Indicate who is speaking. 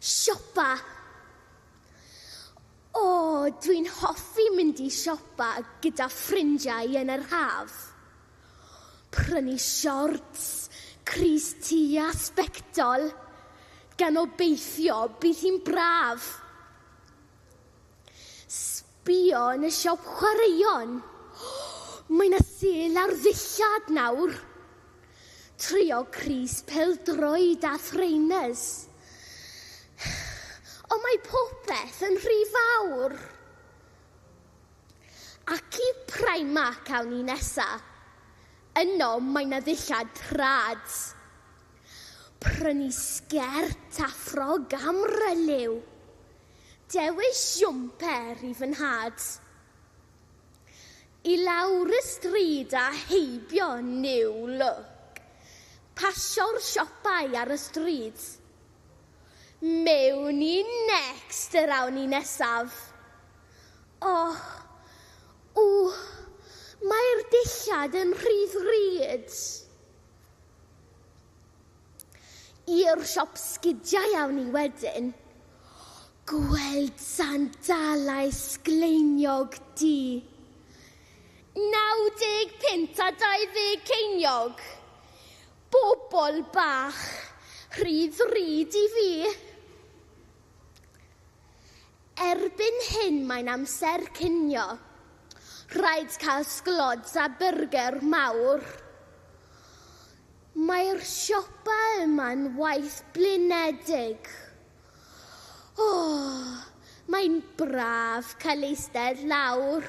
Speaker 1: Siopa. O, dwi'n hoffi mynd i siopa gyda ffrindiau yn yr haf. Prynu siorts, crys ti a sbectol, gan obeithio bydd hi'n braf. Bia yn y siop chwaraeon. Mae 'na sêl ar ddillad nawr. Trio crys pêl-droed a thrainers. Ond mae popeth yn rhy fawr. Ac i Primark awn ni nesa. Yno mae 'na ddillad trad. Prynu sgert a ffrog am Relew. Dewis siwmper i fy nhad. I lawr y stryd a heibio New Look. Pasio'r siopau ar y stryd. Mewn i Next yr awn ni nesaf. Och, ww, mae'r dillad yn rhy ddrud. I'r siop sgidiau awn ni wedyn. Gweld sandalau sgleiniog di. 95 a 20 ceiniog. Bobl bach, rhy ddrud i fi. Erbyn hyn mae'n amser cinio. Rhaid cael sglods a byrger mawr. Mae'r siopa yma'n waith blinedig. O! Mae'n braf cael eistedd lawr.